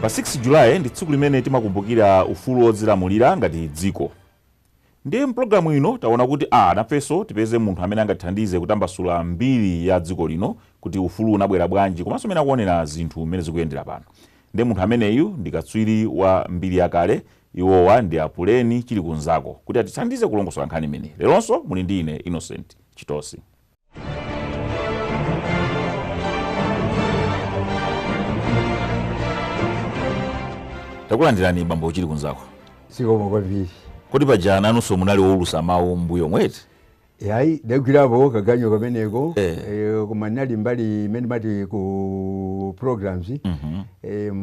Pa 6 July ndi tsiku limene timakumbukira ufulu wodzilamulira ngati dziko. Ndiye mpulogalamu ino taona kuti a nafenso tipeze munthu amene angatithandize kutambasula mbiri ya dziko lino kuti ufulu unabwera bwanji komanso mmene akuonera zinthu mmene zikuyendera pano. Ndiye munthu ameneyu ndi katswiri wa mbiri yakale Iwowa ndi a Puleni Chilikunzako kuti atithandize kulongosola nkhani imeneyi. Leronso muli ndi ine Innocent Chitosi. Takulandirani bambo Chilikunzako. Zikomo kwambiri. Kodi paja nanunso munali woulusa mawu m'mbuyomu eti? Yayi, ndagwirapo kaganyo kameneko eh. Eh, koma ndinali mbali imene amati ku programs mm -hmm. eh,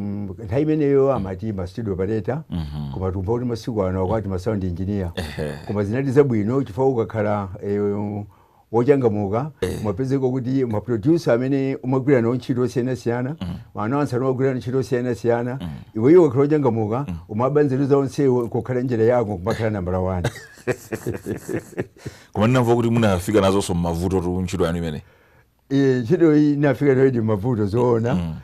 nthawi imeneyo amati ma studio operator mm -hmm. koma tumva kuti masiku ano akuti ma sound engineer eh. koma zinali zabwino chifukwa ukakhala eh, wochangamuka eh. umapezeka kuti maproducer amene umagwira nawo ntchito osiyanasiyana mm. announcer amagwira ntchito osiyanasiyana mm. iweyo ukakhala wochangamuka mm. umaba nzeru za onsewo kukhala njira yako kumakhala nambala wani koma ndinamva kuti munafika nazonso mmavutotu ntchito yanu imeneyi Eh, ntchito iyi ndinafika nayodi mmavuto zoona mm.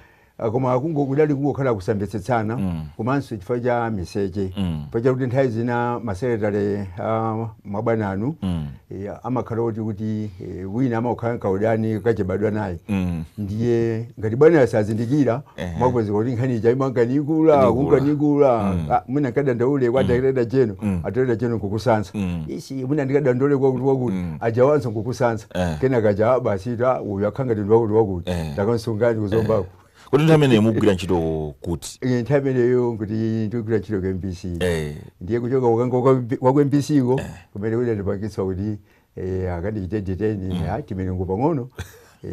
koma kungo kudali kungokhala kusamvetsetsana mm. komanso chifukwa cha miseche mm. chifukwa chakuti nthawi zina masekretary a mabwana anu mm. e, amakhala oti kuti e, wina amakhala nkaudani kachibadwa naye mm. ndiye ngati bwana sazindikira umapezeka kuti nkhani ija imanka nikula kunka nikula mm. ah, mwina nkadandaule kwa mm. a director general mm. a director general nkukusasa isi mwina ndikadandaule kwa wakuti wakuti ajawanso nkukusasa eh. kenaka aja basi ta uyu akhala ngati ndi wakuti wakuti eh. takamsungani ku Zombako eh. kodi nthawi imeneyo mukugwira ntchito kuti nthawi imeneyo nkuti ndikugwira ntchito ku mbc ndiye kuchoka kwa ku mbc ko kumene kudandipangitsa kuti Eh, akandichite detain mm. ah, timilungu pang'ono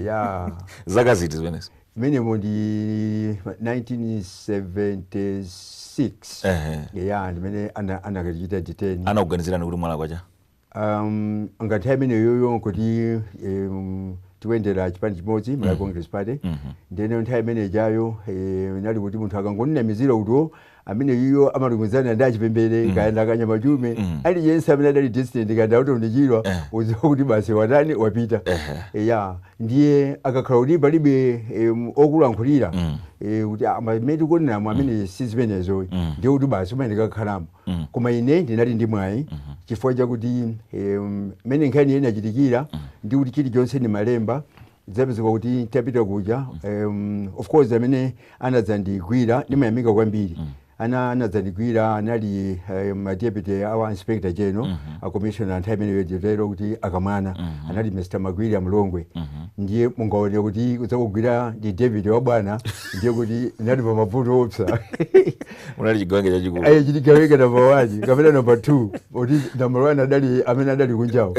ya zaka ziti zimenezo mmenemo ndi 1976 Ehe. ya ndimene ana- anakandichita detain anakuganizirani kuti mwalakwa chani um, nthawi imeneyoyo nkuti um, tikuyendera chipani chimodzi Malawi Congress Party ndeno nthawi imene ijayo eh, inali kuti munthu akangokunamizira kuti o ameneyo amalumikizana ndi a Chipembere kaya ndi a Kanyama Chiume aliyense amene adali dissident kaya ndi a Orton Chirwa udziwa kuti basi watani wapita ya ndiye akakhala kuti palibe em, okulankhulira eh, kuti amene tikuoneramu amene si zimenezo ndiye kuti basi umene ndikakhalamo koma ine ndinali ndi mwayi chifukwa chakuti em, mmene nkhani ija inachitikira ndi kuti chilichonse ndimalemba zapezeka kuti ntapita kuja um, of course amene anadzandigwira ndimayamika kwambiri ana anadzandigwira anali eh, madeputy awo inspector general a commissioner a nthawi imeneyo nditero kuti a kamwana anali mr magwira a mlongwe ndiye mungaone kuti kudzakugwira ndi deputy wa bwana ndiye kuti ndinali pa mavuto oopsa unali chigawenga chachikulu eya chigawenga namba wani kapena namba two poti namba wani adali amene adali kunjawo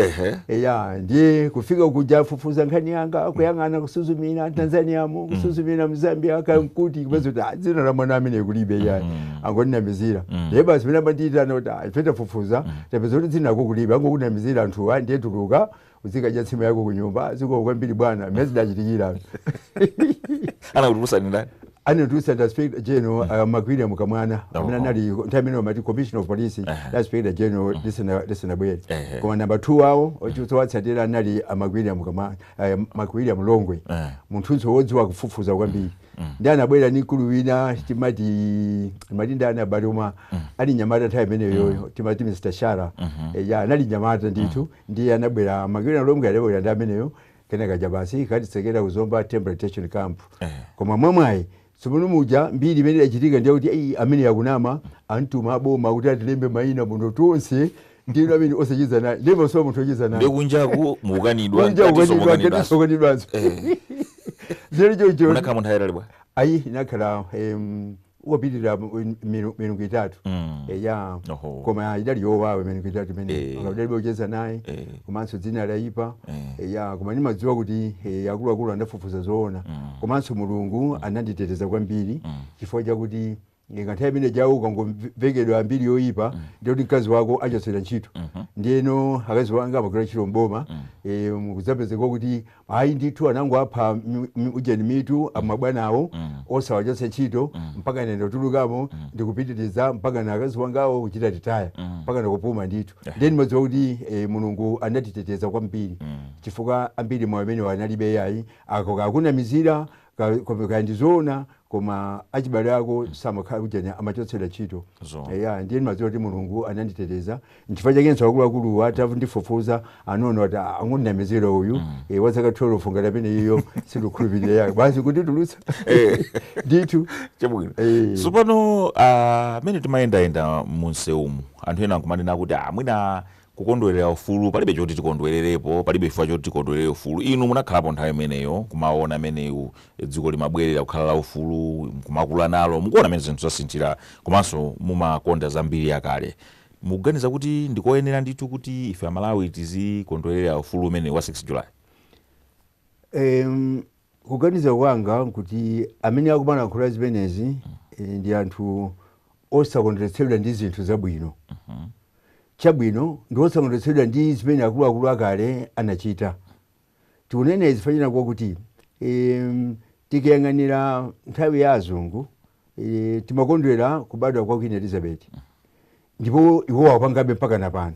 eya ndiye kufika kuja afufuza nkhani yanga kuyang'ana kusuzumira tanzaniamo mm. kusuzumira mzambia kumkuti kupeza kuti ah, dzina la mwana ameneyu kulibe yayi mm. angondinamizira mm. ndiye basi pena anandiyitana kuti ah, ife tafufuza tapeza kuti dzina lako kulibe angokunamizira anthuwa ndiye tuluka uzikadya nsima yako kunyumba zikomo kwambiri bwana mmene zidachitikira anakutulutsani ndani ananditulutsa ndi inspector general uh, magwira a kamwana amene anali nthawi imeneyo amati commissioner of police dzina la inspector general lisana- lisanabwere Ehe. koma namba 2 awo ochiwatsatira anali a magwira a kamwana uh, magwira a mlongwe Eh. munthunso wodziwa kufufuza kwambiri ndi anabwera ndi mkulu wina timati timati ndani aah koma ali mnyamata nthawi imeneyo timati mr shara Eh, ya anali mnyamata ndithu Ndiye anabwera Magwira a Mlongwe adabwera ndi ameneyo kenaka kaja basi kukatitsekera ku Zomba temporary detention camp. Koma mwamwayi tsopano muja mbiri imene idachitika ndiye kuti ayi ameneyu akunama amtuma a boma kuti atilembe mayina muno tonse ndiyeno ameneyu osacheza naye ndiye ndimasowa munthu ocheza naye ndiye kunjaku mukukanidwa kunja mkatinso kukanidwa mukukanidwanso mkatinso kukanidwanso Eh. zero choncho munakhalamo nthawi yaitali bwanji ayi ndinakhala em, kupitirira mu- milu- milungu itatu Mm. eya Oho. koma idali yowawa milungu itatu imeneyo Eh. ndidalibe ocheza naye Eh. komanso dzina layipa Eh. eya koma ndimadziwa kuti eh, akuluakulu anafufuza zoona komanso mulungu ananditeteza kwambiri chifukwa chakuti nthawi imene ijayo ukangomvekedwa mbiri yoyipa ndiye kuti mkazi wako achotsedwa ntchito ndiyeno akazi wanga amagwira ntchito mboma kudzapezeka kuti ayi ndithu anangowapa mi- mi- ujeni mitu amabwanawo osawachotsa ntchito mpaka ine kutulukamo ndikupitiriza mpakana akazi wangawo kuchita ritaya mpakana kupuma ndithu ndiye ndimadziwa kuti eh, mulungu anatiteteza kwambiri chifukwa ambiri mwayi umenewu analibe yayi akakunamizira Ka- koma kaya ndizoona koma achibale ako samakhala kujanya amachotsedwa ntchito Zo. eya ndiye ndimadziwa kuti mulungu ananditeteza nchifukwa chakenso akuluakuluwa atafu- ndifufuza anaona kuti "Ah, angomunamizira uyu eh, wa zaka 12 angapange zimenezo sitikhulupirira yayi basi kunditulutsa ndithu chabwino Eh. tsopano ah, mmene timayendayenda mumsewumu anthu ena akumanena kuti ah, mwina kukondwerera ufulu, palibe choti tikondwererepo, palibe chifukwa choti tikondwerere ufulu. Inu munakhalapo nthawi imeneyo, kumawona mmene dziko limabwerera kukhala laufulu, nkumakula nalo, mukuwona mmene zinthu zasinthira, komanso mumakonda za mbiri yakale. Mukuganiza kuti ndi koyenera ndithu kuti ife Amalawi tizikondwerera ufulu umenewu wa 6 July? Eeeh, Kuganiza kwanga nkuti amene akumalankhula zimenezi ndi anthu osakondweretsedwa ndi zinthu zabwino, chabwino, ndi osakondweretsedwa ndi zimene akuluakulu akale anachita. Tikunena izi chifukwa china nkwakuti tikayang'anira nthawi ya azungu timakondwera kubadwa kwa Queen Elizabeti ndipo iwowo akupangabe mpakana pano.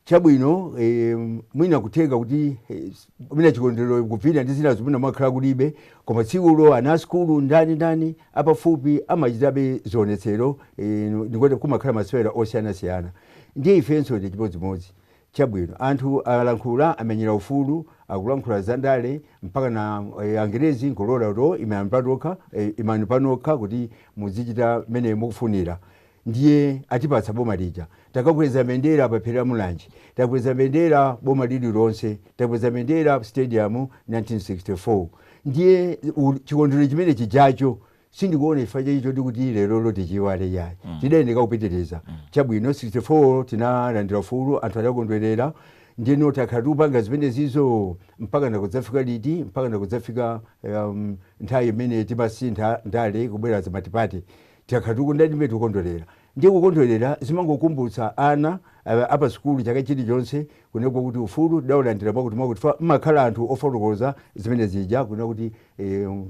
chabwino eh, mwina kutheka kuti eh, mwina chikondwerero kuvina ndi zinazo mwina mwakhala kulibe koma tsikulo ana asukulu ndani ndani apafupi amachitabe zionetsero eh, ndikuti kumakhala masewera osiyanasiyana ndiye ifenso ndi chimodzimodzi chabwino anthu alankhula amenyera ufulu akulankhula za ndale mpaka na eh, angerezi nkulola kuti imani patokha eh, imani panokha kuti muzichita mmene mukufunira Ndiye atipatsa boma lija. Takakweza mbendera pa phiri la Mulanje. Takweza mbendera boma lililonse. Takweza mbendera ku stadium 1964. Ndiye u- chikondwerero chimene chijacho sindikuona chifukwa chake choti kuti lerolo tichiwale yayi tidayenera kupitiriza chabwino 64 tinalandira ufulu anthu adakondwerera ndiyeno takhala tikupanga zimenezizo mpaka nakudzafika liti mpaka nakudzafika um, nthawi imene timasintha ndale kubwera za matipate Takhala tikukondwa ndi mmene tikukondwerera. Ndiye kukondwerera zimangokumbutsa ana a pa sukulu chaka chilichonse kunena kuti ufulu tidaulandira mwakutimwakuti chifukwa mmakhala anthu ofotokoza zimene zija kunena kuti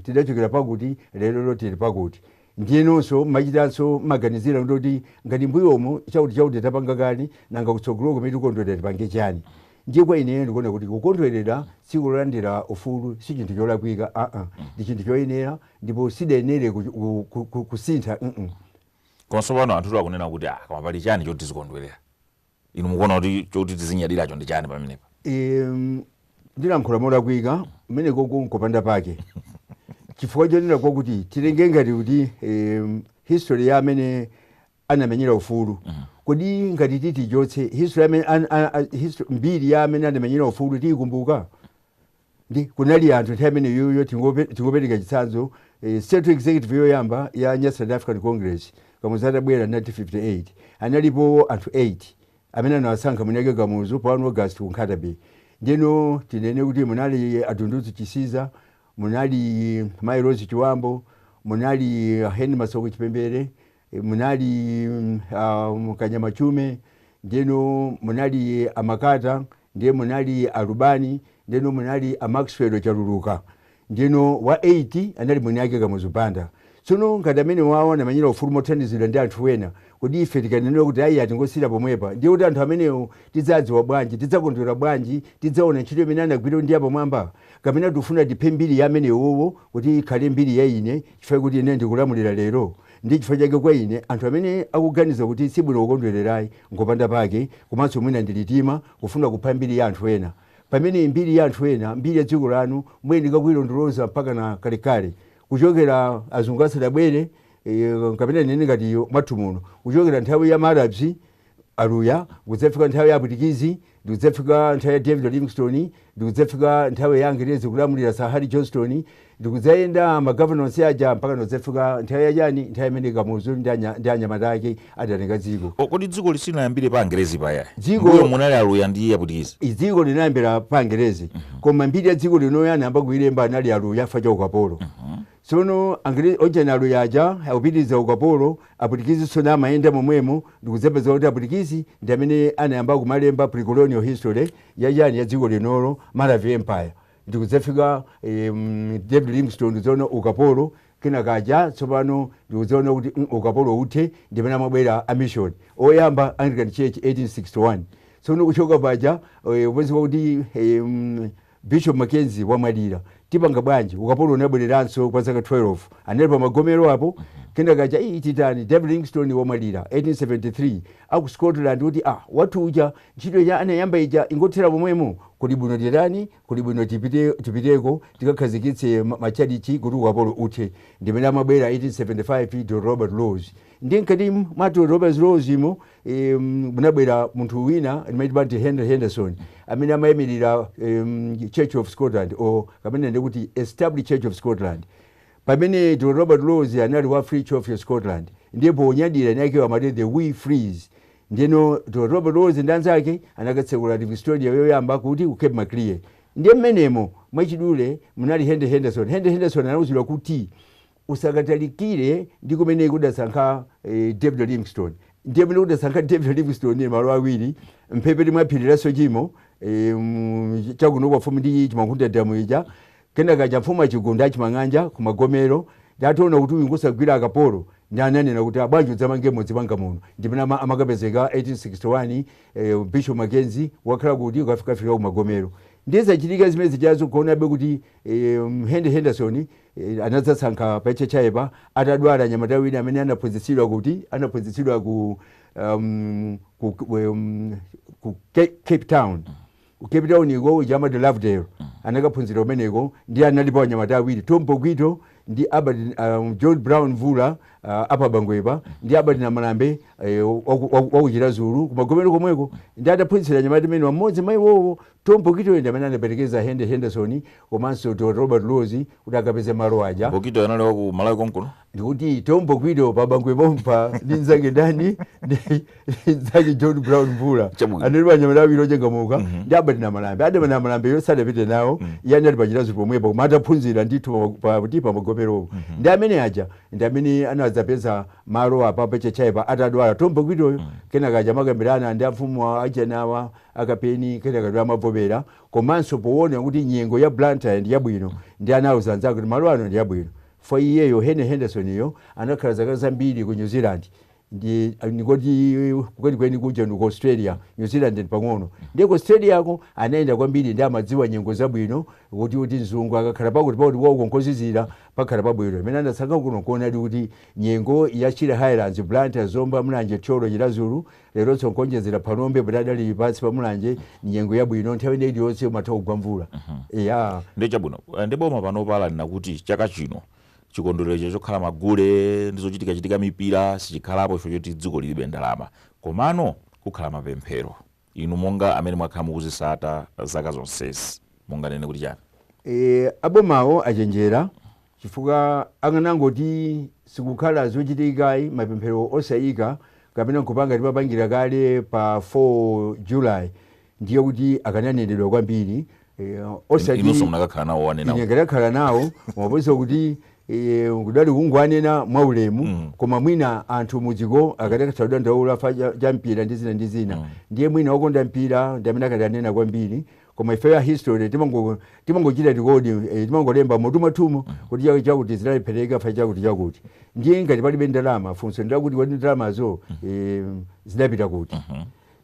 tidachokera pakuti lerolo tili pakuti. Ndiyenonso mmachitanso mmaganizira kunena kuti ngati mmbuyomu chakutichakuti tapanga kale nanga kutsogoloko pamene tikukondwerera tipange chiyani. Ndiye kwa ineyo ndikuona kuti kukondwerera tsiku lolandira ufulu si chinthu cholakwika aa ndi chinthu choyenera. ndipo sidayenere ku- ku- ku- ku- kusintha mm. komanso pano anthu akunena kuti ah koma pali chani choti tizikondwerera inu mukuona kuti choti tizinyadiracho ndi chani pamenepa? Em, ndilankhula molakwika mwina komano nkopanda pake chifukwa chonena kwakuti titenge ngati kuti em, history ya amene anamenyera ufulu kodi ngati titi tichotse history ya amene an- a- a- histo- mbiri ya amene anamenyera ufulu tiyikumbuka ndi kunali anthu nthawi imeneyoyo tingope- tingopereka chitsanzo eh, central executive yoyamba ya Nyasaland African Congress kamuzu atabwera 1958 analipo anthu 8 amene anawasankha kuphatikiza Kamuzu pa 1 august ku Nkhata Bay ndiyeno tinene kuti munali a Dunduzu Chisiza munali mai Rose Chibambo munali a Henry Masauko Chipembere E, munali mm, ah, Kanyama Chiume ndeno munali a Makata ndiye munali a Lubani ndeno munali a Maxwell chaluluka ndeno wa 8 anali mwini ake kamuzu banda tsono ngati amene wawo anamenyera ufulu mothandizidwa ndi anthu ena kodi ife tikanenera kuti ayi a tingosiyira pomwepa ndiye kuti anthu amenewo tidzadziwa bwanji tidzakondwera bwanji tidzaona ntchito imene anagwira ndi yapamwamba kapena tikufuna tiphe mbiri ya amenewowo kuti ikhale mbiri ya ine chifukwa kuti ine ndikulamulira lero Ndiye chifukwa chake kwa ine anthu amene akuganiza kuti sibwino kukondwererayi ngopanda pake komanso mwina ndi litima kufuna kupha mbiri ya anthu ena. Pamene mbiri ya anthu ena, mbiri ya dziko lanu muyeneka kuilondoloza mpakana kalekale kuchokera azungu asadabwere kapena tinene ngati mwathu muno kuchokera nthawi ya ma Arabs Aluya, kudzafika nthawi ya Apwitikizi, ndi kudzafika nthawi ya David Livingstone, ndi kudzafika nthawi ya Angerezi kulamulira Sir Harry Johnston, ndi kudzayenda ma governor onse aja mpakana kudzafika nthawi ya chani, nthawi imene Kamuzu ndi anya, ndi anyamata ake adatenga dziko. O, kodi dzikoli silinayambire pa Angerezi paja? Dziko- M'mbuyo munali Aluya ndi Apwitikizi. Dziko linayambira pa Angerezi, koma mbiri ya dziko linoyo anayamba kuilemba anali Aluya chifukwa cha ukapolo. Tsono Angerezi o chani Aluya aja akupitiriza ukapolo, Apwitikizinso namayenda momwemo ndikudzapeza kuti Apwitikizi ndi amene anayamba kumalemba pre-colonial history ya chani ya dziko linolo, Maravi Empire, ndikudzafika eem David Livingstone tsono ukapolo kena kaja tsopano ndikudzaona kuti mm ukapolo uthe ndi pamene amabwera a Mission oyamba Anglican Church 1861 tsono kuchoka paja eeh kupezeka kuti eeh mm Bishop Mackenzie wamwalira tipanga bwanji ukapolo unabwereranso kwa zaka 12 anali pa magomero apo kenaka aja ii titani David Livingstone wamwalira 1873 aku Scotland kuti ah wathu uja ntchito ija anayamba ija ingothera pomwemo kuli bwino titani kuli bwino tipite tipiteko tikakhazikitse ma- matchalitchi kuti ukapolo uthe ndimene amabwera 1875 Dr Robert Laws ndi mkati mwa Dr Robert Laws mo em, munabwera munthu wina ndimaitwa ndi henry henderson amene amayimirira em, church of scotland o kapena ndikuti established church of scotland pamene dr robert laws anali wa free church of scotland ndiye ponyadira eni akewo amati the wee frees ndiyeno dr robert laws ndi anzake anakatsekula livingstonia yoyamba kuti ku cape maclear ndiye mmenemo mwachidule munali henry henderson henry henderson anauzidwa kuti usakatalikire ndi kumene kudasankha eh, David Livingstone ndiye pamene kudasankha David Livingstone malo awiri mphepete mwa phiri la Sochemo eh, mu- chakuno kwa mfumu ndi chimwankhunda damu ija kena kaja mfumu achigunda achimang'anja kumagomero ndi ataona kuti uyu ngosagwira akapolo ndi ananena kuti a bwanji udzamange mudzi panga muno ndi pamene ama- amakapezeka 1861 eh, bishop mackenzie wakhala kuti ukafikafika kumagomero ndiye zachitika zimene zijazo kuonabe kuti Henry Henderson anadzasankha pa HHI pa atadwala mnyamata wina amene anaphunzitsidwa kuti anaphunzitsidwa ku um, ku, um, ku Cape Town ku Cape Town uko uja amati Lovedale anakaphunzira kumeneko ndiye analipo anyamata awiri Tom Bokwito ndi Albert um, John Brown Mvula uh, apa Bangwe pa ndi Albert Namalambe eh, wa ku Chiradzulu ku Magomero komweko ndiye ataphunzira anyamata amenewa mmodzi mwa iwowo Tom Bokwitoyo ndi amene anaperekeza Henry Henderson komanso Dr. Robert Laws kuti akapeze malo aja. Bokwito anali wa ku Malawi konkuno. Ndikuti Tom Bokwito pa Bangwe pompa ndi nzake ndani ndi ndi nzake John Brown Mvula. Chabwino. Anali anyamata awiri ochangamuka ndi Albert Namalambe. Albert Namalambe yo sadapite nawo iye anali pa Chiradzulu pomwepo koma adaphunzira ndithu pa- pa kuti pa Magomeropo. Ndiye amene aja ndi amene anadzapeza malo apa pa HHI pa atadwala Tom Bokwitoyo kenaka aja amakambirana ndi amfumu achanawa a Kapeni kenaka ndiye amavomera komanso powona kuti nyengo ya Blantyre ndi yabwino ndiye anauza anzake kuti malo ano ndi abwino chifukwa iyeyo Henry Henderson yo anakhala zaka zambiri ku New Zealand ndi ndikuti kwenikweni kuja ndi ku Australia New Zealand ndi pang'ono ndiye ku Australia ko anayenda kwambiri ndiye amadziwa nyengo zabwino kuti kuti mzungu akakhala pakuti pakuti kwawoko nkozizira pakhala pabwino mmene anasankha kuno kuonadi kuti nyengo ya Shire Highlands Blantyre Zomba Mulanje Thyolo Chiradzulu Leronso nkuonjezera Phalombe poti adali pansi pa Mulanje nyengo yabwino nthawi ina iliyonse kumatha kugwa mvula eya ndi chabwino Eh, ndiye boma panopa lanena kuti chaka chino chikondwerero chokhala magule ndi zochitikachitika mipira sichikhalapo chifukwa choti dziko lilibe ndalama komano kukhala mapemphero inu monga amene mwakhala mukuzitsata zaka zonsezi munganene kuti chani e, abomawo achenjera Chifukwa akanangoti sikukhala zochitika ayi mapemphero osayika kapena nkupanga timapangira kale pa 4 July ndiye kuti akananenedwa kwambiri eh, In- osati inunso munakakhala nawo owanena ine uja. ndinakakhala nawo mwaposa kuti eh, kudali kungowanena mwa ulemu koma mwina anthu mudziko akadatha kudandaula fa cha- cha mpira ndi zina ndi zina ndiye mwina okonda mpira ndi amene akadanena kwambiri koma ifeyo a history timango timangochita record eh, timangolemba m'mutu mwathumo kuti cha- chakuti zidalephereka fa chakuti chakuti ndiye ngati palibe ndalama funso ndilakuti kodi ndalamazo eh, zidapita kuti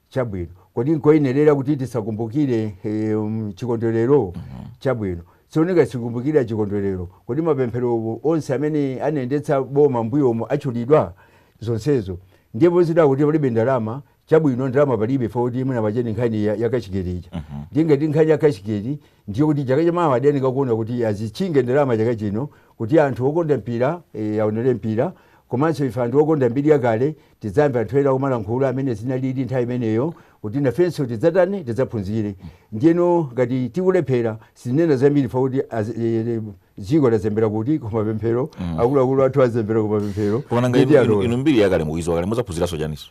chabwino kodi nkoyenerera kuti tisakumbukire eh, um, chikondwerero chabwino sioneka sikumbukira chikondwerero kodi mapemphero onse amene anayendetsa boma mbuyomo atchulidwa zonsezo ndipo zidakuti palibe ndalama chabwino ndalama palibe ife kuti mwina paja ndi nkhani ya, ya cashgate ija Mhm. ndiye ngati nkhani ya cashgate ndiye kuti chaka chamawa adayeneka kuona kuti azitchinge ndalama chaka chino kuti anthu okonda mpira eh, aonere mpira komanso ife anthu okonda mbiri yakale tidzamve anthu ena kumalankhula amene zinalili nthawi imeneyo kuti nafenso tidzatani tidzaphunzire ndiyeno ngati tikulephera sinena zambiri fa kuti azi- eh, eh, dziko lazembera kuti kumapemphero akuluakulu athu azembera kumapemphero koma nanga Ndiye inu- inu tialola. inu mbiri yakale mukuidziwa kale mudzaphunziranso chaninso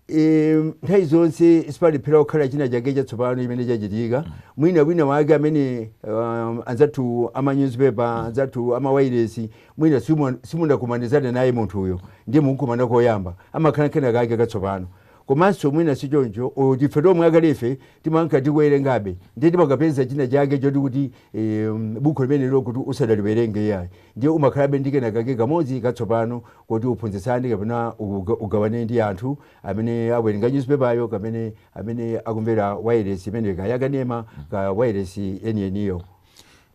e, nthawi zonse sipalephera kukhala china chake chatsopano chimene chachitika mwina wina wake amene um, anzathu amanyuzipepa anzathu amawairesi mwina simu- simunakumanizane naye munthuyo ndiye mukukumana koyamba amakhala kena kake katsopano komanso mwina si choncho o, tife tomwe akalefe timanka tikuwerengabe ndiye timakapeza china chake choti kuti eh, buku limenelo kuti usadaliwerenge iyayi ndiye umakhalabe ndi kena kake kamodzi katsopano Koti uphunzitsane kapena ugawane ndi anthu amene awerenga nyuzipepayo kapena amene akumvera wailesi imeneyo, kaya yakanema kaya wailesi yeniyeniyo?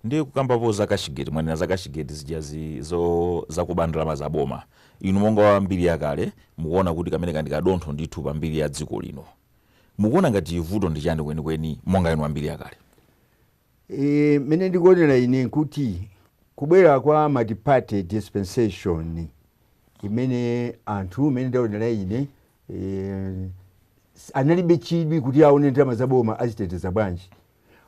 Ndiye kukambapo za cashgate mwanena za cashgate zijazi zo zakuba ndalama za boma. Inu monga wa mbiri yakale mukuona kuti kameneka ndi kadontho ndithu pa mbiri ya dziko lino. Mukuona ngati vuto ndi chani kwenikweni monga inu wa mbiri yakale? E, mene ndikuonera ine nkuti kubwera kwa multiparty dispensation imene anthu mene ndaonera ine e, analibe chidwi kuti aone ndalama za boma aziteteza bwanji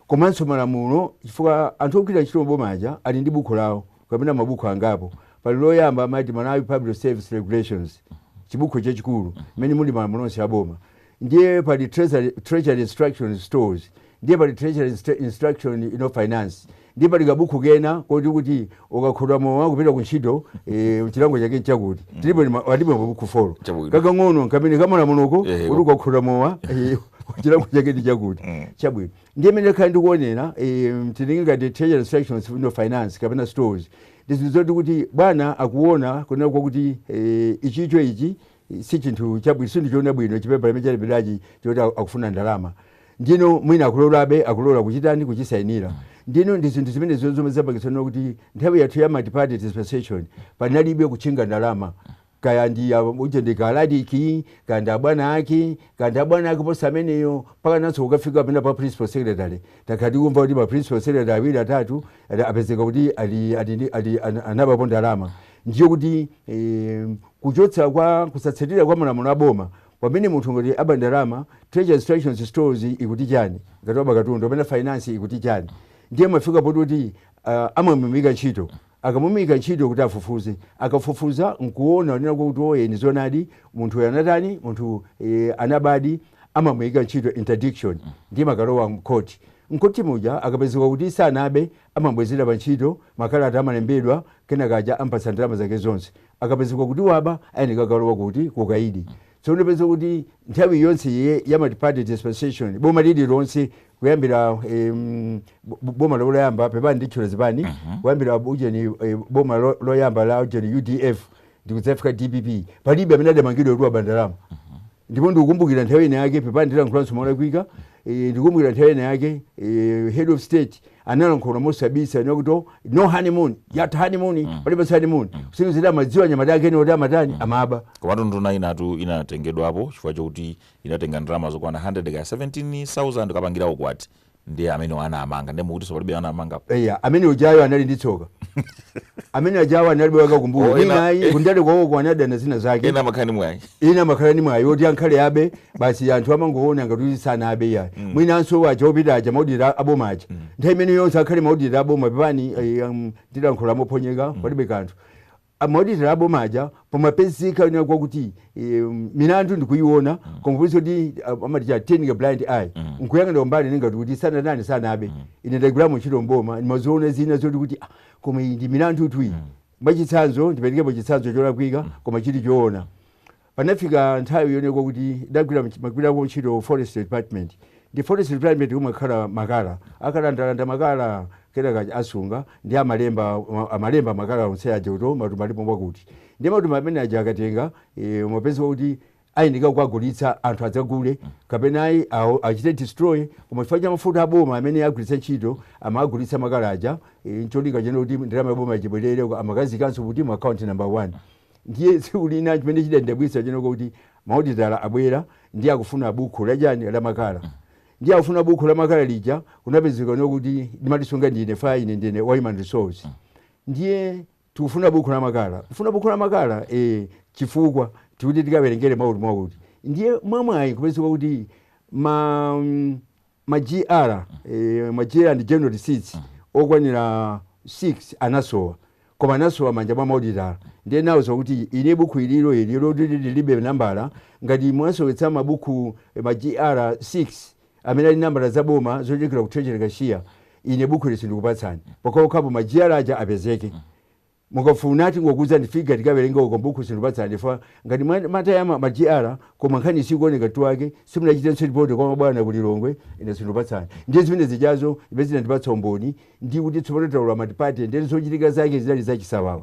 komanso malamulo chifukwa anthu ogwira ntchito m'boma aja ali ndi bukhu lawo kapena mabuku angapo. Pali loyamba amati Malawi Public Service Regulations, chibukhu chachikulu mmene muli malamulo onse aboma. Ndiye pali Treasury, Treasury Instructions Stores, ndiye pali Treasury Instruction you know, Finance, ndiye pali kabukhu kena koti kuti ukakhuta mowa kupita ku ntchito e, chilango chake nchakuti mm. tilipo atipo mabukhu folo kakang'ono kamene kamalamuloko kuti ukakhuta mowa e, chilango chake ndi chakuti mm. chabwino Ndiye mmene ndakhala ndikuonera, em, tili ngati treasury instructions finance kapena stores ndi zinthu zoti kuti bwana akuona kunena kwakuti eh, ichicho ichi eh, si chinthu chabwino si chinthu choona bwino chipepala chimene chalembedwachi choti aku- akufuna ndalama ndino mwina akulolabe akulola kuchitani kuchisainira ndino ndi zinthu zimene zomwe zapangitsa kuti nthawi yathu ya multiparty dispensation panalibe kutchinga ndalama kaya ndi ya uja ndi kaladiki kaya ndi abwana ake kaya ndi abwana ake posa ameneyo mpaka nanso kukafika pena pa principal secretary takhala tikumva kuti ma principal secretary awiri atatu ali- apezeka kuti ali- ali ndi- ali- ana- anabapo ndalama ndiye kuti eh, kuchotsa kwa kusatsatira kwa malamulo a boma pamene munthu ngati aba ndalama treasury instructions stores ikuti chani ngati waba katundu pamene finance ikuti chani ndiye amafika poti kuti uh, amamuimika ntchito Akamuimika ntchito kuti afufuze. Akafufuza n'kuona, kunena kwakuti oye, ni zoonadi, munthu uyu anatani, munthu eh, anabadi, amamuimika ntchito interdiction, ndiye amakalowa m'khoti. M'khoti muja akapezeka kuti sanabe, amamubwezera pa ntchito, makalata amalembedwa, kenaka uja amupatsa ndalama zake zonse. Akapezeka kuti waba, ayenera kukalowa kuti? Kukaidi. So ndipeza kuti nthawi yonse ye- ya multiparty dispensation boma lililonse kuyambira em, bo- bo- boma loyamba pepani ndatchula zipani kuyambira ujeni eh, boma lo- loyamba la ujeni udf ndikudzafika dpp palibe amene adamangidwa kuti waba ndalama ndipo ndikukumbukira nthawi ina yake pepani ndilankhulanso molakwika eh, ndikukumbukira nthawi ina yake eh, head of state analankhula mosabisa kunena kuti "Oh, no honeymoon yatha honeymoon palibe honeymoon kusonyeza amadziwa anyamata ake ndi oti amatani amaba komatu nduna inatu inatengedwapo chifukwa chokuti inatenga ndalama zokwana 100 ka 17000 kukapangira ukwati ndi amene anamumanga ndiye mukutinso palibe anamangidwa eya amene ujayo anali ndi tsoka amene ujayo analibe wake wakumbuyo ena- ninayi kundale kwawoko anadana nazo zina zake ena amakhala ndi mwayi ena amakhala ndi mwayi woti angakhale abe basi anthu amangoona ngati kuti sanabe iyayi mwinanso awaja opita aja maodita aboma aja nthawi imene yonse angakhale maodita aboma pepani eh, um, ndilankhula mophonyeka palibe kanthu Ah, maodita aboma aja pamapezeka kunena kwakuti eh, milandu akuyiona koma kuti kuti amati chani turning a blind eye nkuyang'ana kumbali ine ngati kuti sanatani sanabe ine ndagwiramo ntchito mboma ndimaziona zina zoti kuti ah, koma iyi ndi milandutu iyi mwachitsanzo ndiperekepo chitsanzo cholakwika koma chili choona Panafika nthawi yonena kuti ndidagwira ndimagwirako ntchito Forestry Department. Ndiye Forestry Department kumakhala makala. Akalandalanda makala kenaka asunga ndiye amalemba amalemba makala onse aja kuti matumba alipo mwakuti. Ndiye matumba amene aja akatenga e, umapezeka kuti ayenera kukagulitsa anthu adzagule kapena ayi awo achite destroy koma chifukwa cha mafuta aboma amene agwiritsa ntchito amagulitsa makala aja e, ncholinga chonena kuti ndalama yaboma ija ibwerere amakaziikanso kuti mu account number one Ndiye tsiku lina chimene chidandidabwitsa chinali chakuti ma auditor abwera ndiye akufuna bukhu la chani la makala ndiye akufuna bukhu la makala lija kunapezeka kunena kuti ndimalisunga ndine as ine ndine wa human resource ndiye tikufuna bukhu la makala kufuna bukhu la makala e, chifukwa tikuti tikawerengere mwakuti mwakuti ndiye mwamwayi kupezeka kuti ma mm, Ma GR, eh, ma GR ndi general receipts okwanira 6 anasowa koma anasowa m'manja mwa ma auditor ndiye ndinawauza kuti ine buku ililo ili loti lilibe nambala ngati mwasowetsa mabuku eh, ma GR 6 amene ali ndi nambala za boma zochokera ku treasury cashier ine buku ili sindikupatsani pokhapokhapo ma GR aja apezeke Mukafuna tingokuuzani figure tikawerenga uko m'bukhu sindikupatsani chifukwa ngati mwamataya ma, ma GR koma nkhani sikuoneka mutu wake, simunachitenso report kwa mabwana ku Lilongwe, ine sindikupatsani. Ndiye zimene zijazo zimene zinandipatsa umboni ndi kuti tsopano talowa multiparty ndiye zochitika zake zinali zachisawawa.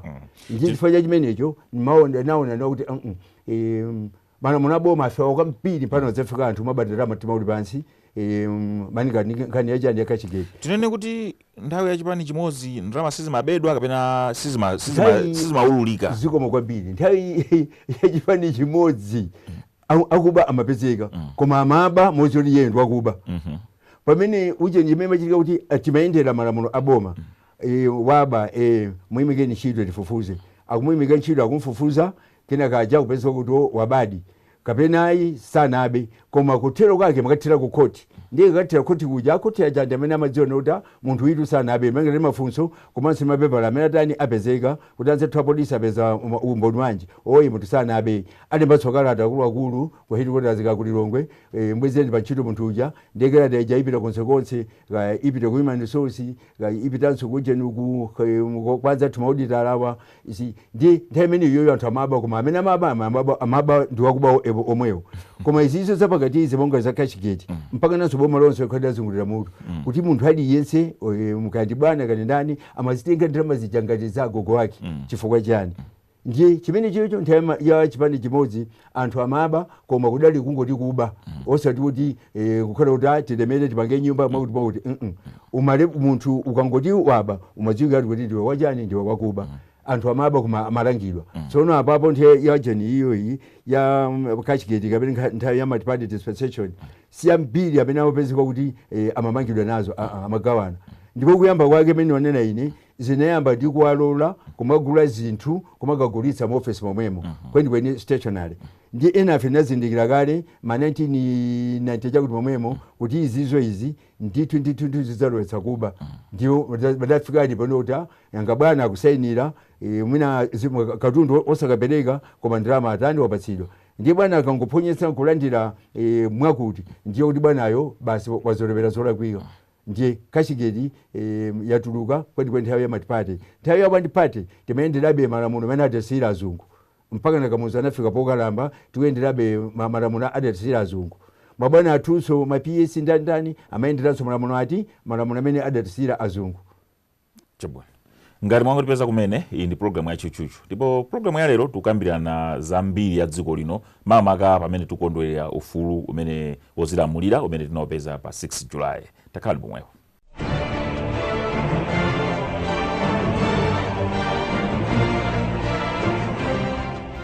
Ndiye Chi- chifukwa cha chimenecho ndimaona naona nawo kuti uh -uh, eh, Malamulo a boma afewa kwambiri pano zafika anthu amaba dala mtima uli pansi e, malinga nkhani yachani ya cashgate tinene kuti nthawi ya chipani chimodzi ndalama sizimabedwa kapena sizimaululika zikomo kwambiri nthawi ya chipani chimodzi akuba amapezeka mm. koma amaba modziwa kuti iye ndi wakuba mhm. pamene uje imene imachitika kuti timayendera malamulo a boma mm. e, waba e, muimikeni ntchito tifufuze akumuyimika ntchito akumfufuza Kenaka aja akupezeka kuti wabadi kapena ayi sanabe koma kuthero kwake imakathera ku court ndiye ikathera court kuja a court aja ndi amene amadziona kuti a munthu uyutu sanabe malingana ndi mafunso komanso ndi mapepala amene atani apezeka kuti anzathu apolisi apeza um, umboni wanji woti munthu sanabe alembanso kalata akuluakulu ku headquarters ka ku Lilongwe e, mbwezereni pa ntchito munthu uja ndiye kalata ija ipita konsekonse kaya ipite ku human resource kaya ipitanso kujeni uku kaya mu- kwa anzathu ma auditor awa ndi nthawi imene iyoyo anthu amaba koma amene amaba ama- amaba, amaba ndi wakuba o- evo- omwewo koma izizo zapakati izi monga za cashgate mpaka nanso boma lonse likhadi lazungulira mutu kuti munthu aliyense eh, kaya ndi bwana kaya ndi ndani amazitenga ndalama zija ngati za agogo ake chifukwa chani ndiye chimene chicho nthawi ya- ya chipani chimodzi anthu amaba koma kudali kungoti kuba osati kuti eh, kukhala kuti ah, tilemere tipange nyumba mwakuti mwakuti mm umale munthu ukangoti waba umadziwika kuti kuti ndiwe wachani ndiwe wakuba anthu amaba koma amalangidwa tsono apapo nthawi ya jeni iyoyi ya mm, cashgate kapena nkha- nthawi ya multiparty dispensation si ambiri amene amapezeka kuti eh, amamangidwa nazo ah, ah, amagawana ndipo kuyamba kwake mene wanena ine zinayamba ndi kuwalola kumagula zinthu kumakagulitsa mu office momwemo kwenikweni stationery ndi enafe tinazindikira kale ma 1990 chakuti momwemo kuti izizo izi ndithu ndithu ndithu zidzalowetsa kuba ndiye padafikadi pano kuti ah, yanga bwana akusayinira eh, mwina zimu- katundu osakapereka koma ndalama atani wapatsidwa ndiye bwana akangophonyetsa nkulandira eh, mwakuti ndiye kuti bwanayo basi wazolowera zolakwika Ndiye cashgate em, yatuluka kwenikweni nthawi ya multiparty nthawi ya one party timayenderabe malamulo amene adatisiyira azungu mpaka na kamuzu anafika pokalamba tikuyenderabe ma- malamulo adatisiyira azungu mabwana athunso ma ps ndi ndani amayenderanso malamulo ati malamulo amene adatisiyira azungu Chabwino. Ngati mwangotipeza kumene, iyi ndi programu ya Tchutchutchu. Ndipo programu ya lero tikukambirana za mbiri ya dziko lino, makamaka pamene tikukondwerera ufulu umene wodzilamulira umene tinaupeza pa 6 July. Takhalani pompo.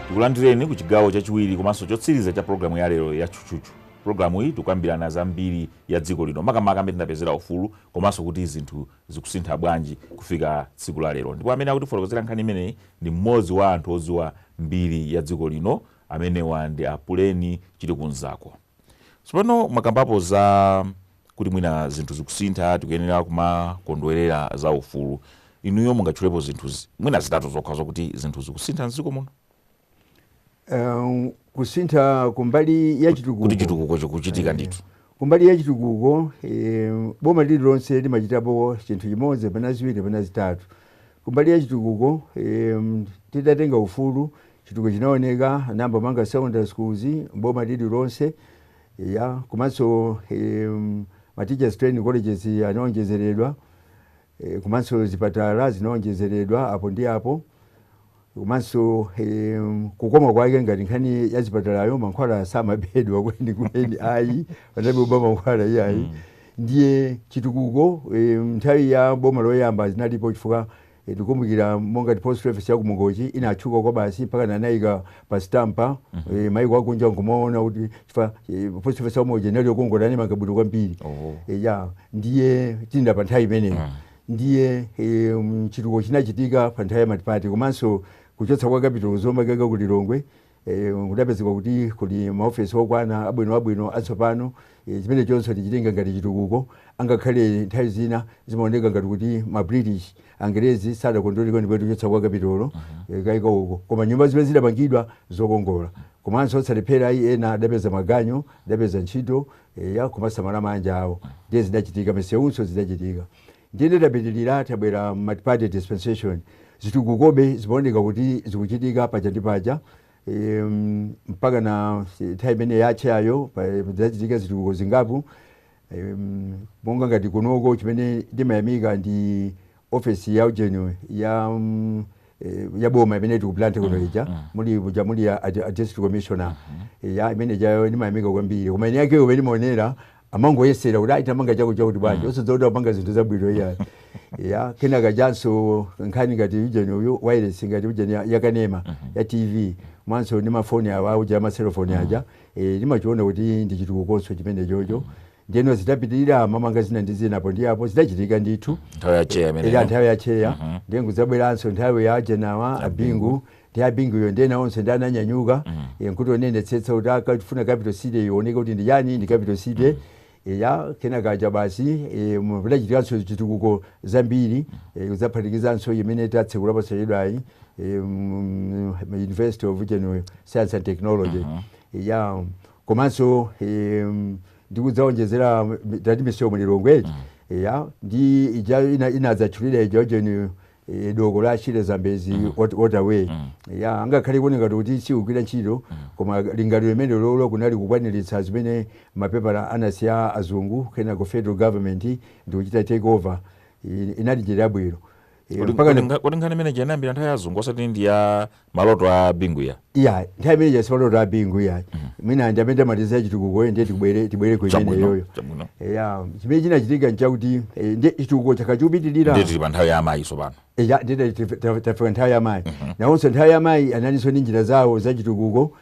Tikulandireni ku chigawo chachiwiri komanso chotsiriza cha programu ya lero ya Tchutchutchu. Programu iyi tikukambirana za mbiri ya dziko lino, makamaka mmene tinapezera ufulu komanso kuti zinthu zikusintha bwanji kufika tsiku la lero. Ndipo amene akutifotokozera nkhani imeneyi ndi mmodzi wa anthu odziwa mbiri ya dziko lino, amenewa ndi a Puleni Chilikunzako. Tsopano mwakambapo za kuti mwina zinthu zikusintha, tikuyenera kumakondwerera za ufulu. Inuyo mungatchulepo zinthu mwina zitatu zokha zokuti zinthu zikusintha m'dziko muno? Eh, kusintha kumbali ya chitukuko kuti chitukuko chikuchitika ndithu kumbali ya chitukuko eh, boma lililonse limachitapo chinthu chimodzi kapena ziwiri kapena zitatu kumbali ya chitukuko eh, titatenga ufulu chitukuko chinaoneka anayamba kumanga secondary schools boma lililonse ya komanso eh, ma teachers training colleges anaonjezeredwa E, komanso zipatala zinaonjezeredwa apo ndi apo komanso e, kukoma kwake ngati nkhani ya zipatalayo mankhwala samabedwa kweni kweni ayi panalibe kuba mankhwala iyayi mm. ndiye chitukuko e, nthawi ya boma loyamba zinalipo chifukwa e, tikumbukira monga ngati post office ya ku Mangochi inatchuka kwabasi mpaka anayiika pa sitampa eh, maiko akunja nkumaona kuti chifukwa eh, post office ya ku Mangochi inali yokongola animanga bwino kwambiri Oh. Eh, ya ndiye tinda pa nthawi imeneyo ndiye eh, mm, chitukuko chinachitika pa nthawi ya matipati komanso kuchotsa kwa kapitolo ku Zomba kukaika ku Lilongwe eh, kudapezeka kuti kuli maofesi okwana abwino abwino atsopano E, chimenechonso tichitenga ngati chitukuko, angakhale nthawi zina zimaoneka ngati kuti ma British, Angerezi sadakondwere kwenikweni kuchotsa kwa kapitolo e, kukaika uko, koma nyumba zimene zidapangidwa zokongola, komanso osalephera ayi, ena adapeza maganyu, adapeza ntchito, eya, kumasamala maanja awo, ndiye zidachitika, misewunso zidachitika. Ndiyeno tapitirira, tabwera multiparty dispensation, zitukukobe zimaoneka kuti zikuchitika paja ndi paja, E, mm, mpaka na si- nthawi imene ya Atcheyayo padachitika zitukuko zingapo e, mm, monga ngati kunoko chimene ndimayamika ndi ofesi ya ujeni ya mm, eh, ya boma imene ili ku Blantyre kuno ija muli kuja muli ya a- a district commissioner ya imene ijayo ndimayamika kwambiri koma ine yakeyo imene imaonera amangoyesera kuti ayi tamanga chako chakuti bwanji osadziwa kuti apanga zinthu zabwino iyayi ya kenaka chanso nkhani ngati ujeni uyu wireless ngati ujeni ya- yakanema ya tv mwanso ndi mafoni awa uja amaselofoni aja eh, ndimachiona kuti ndi chitukukonso chimene chocho ndiyeno zitapitirira mamanga zina ndi zina apo ndi apo zidachitika ndithu nthawi ya cheya ija imeneyo nthawi ya cheya ndiye kudzabweranso nthawi ya ajenawa abingu Ndi a Bingu yo ndi ena onse ndi ananyanyuka eh, nkuti onenetsetsa kuti akafuna capital city ioneke kuti ndi chani ndi capital city Eh, ya kenaka aja basi eh, mu- kudachitikanso chitukuko zambiri eh, kudzaphatikizanso imene tatsekula posachedwayi eh, mu- mu University of General Science and Technology Eh, ya komanso eh, ndikudzaonjezera tati misewu mu Lilongwe ya ndi ija ina- inadzatchulira ija ujeni eh, doko la Shire Zambezi mm. waterway mm. ya angakhale kuoneka ngati kuti siugwira ntchito mm. koma lingaliro limene lolo kunali kukwaniritsa zimene mapepala anasiya azungu kenako federal government ndikuchita take over inali njira yabwino kuti nkhani imene ija inayambira nthawi ya azungu osati ndi ya maloto a bingu ya iya nthawi imene ija simaloto a bingu iya mwina ndi amene amaliza chitukukoyo ndiye tibwere tibwere ku chabwino imeneyoyo chabwino eya chimene chinachitika nchakuti eh, ndiye chitukuko chakhala chikupitirira ndiye tili pa nthawi ya amayi tsopano eya ndiye tafika nthawi ya mayi nawonso nthawi ya mayi analinso ndi njira zawo za chitukuko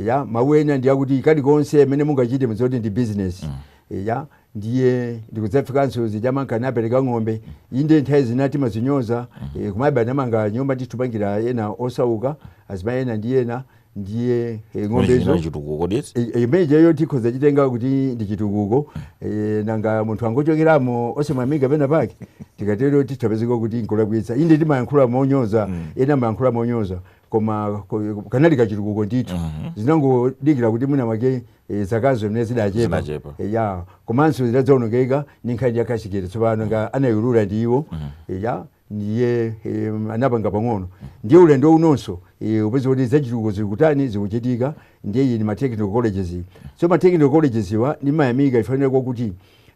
eya mawu ena ndi akuti kalikonse kamene mungachite mudzati ndi business Eya, ndiye ndikudzafikanso zija amanka napereka ng'ombe inde nthawi zina timazinyoza eh, kumabe anamanga nyumba ndikupangira ena osauka azimayi ena ndi ena ndiye eh, ng'ombezo Chimene chitukuko kodi eti? I- i- imene ijeyo tikhoza chitenga kuti ndi chitukuko eh, nanga munthu angochokeramo osamangika pena pake tikatero tithapezeka kuti nkulakwitsa inde timayankhula monyoza ena amayankhula monyoza koma ko- kanali kachitukuko ndithu zinangodikira kuti mwina wake Eh, zakazo zimene zidachepa Zidachepa. Eh, ya komanso zidadzaonongeka ndi nkhani ya kashigeti tsopano monga anayiulula ndi iwo Eh, ya ndiye eh, anapanga pang'ono ndiye ulendo unonso eh, upeza kuti zachitukuko zikutani zikuchitika ndiye iyi ndi ma technical colleges iyi. so ma technical colleges wa ndimayamika chifanira kwakuti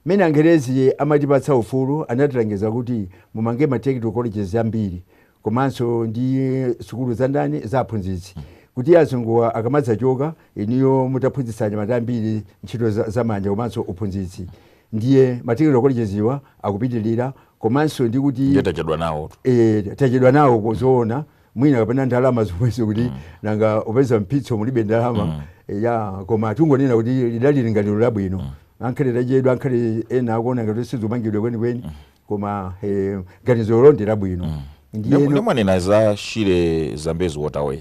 mmene angerezi amatipatsa ufulu anatilangiza kuti mumange ma technical colleges ambiri komanso ndi sukulu za ndani za aphunzitsi kuti azunguwa akamadzachoka inuyo mutaphunzitsa anyamata ambiri ntchito za- zamanja komanso uphunzitsi ndiye ma technical colleges wa akupitirira komanso ndi kuti ndiye tachedwa nawo eh, tachedwa nawo kuzoona mwina kapena ndalama zomwezo kuti nanga upeza mpitso mulibe ndalama eh, ya koma tungonena kuti lidali lingaliro labwino ankhale tachedwa ankhale ena akuona ngati sizomangidwa kwenikweni koma eh, ganizolo ndi labwino mm. ndiyeno mwanena za shire zambezi waterway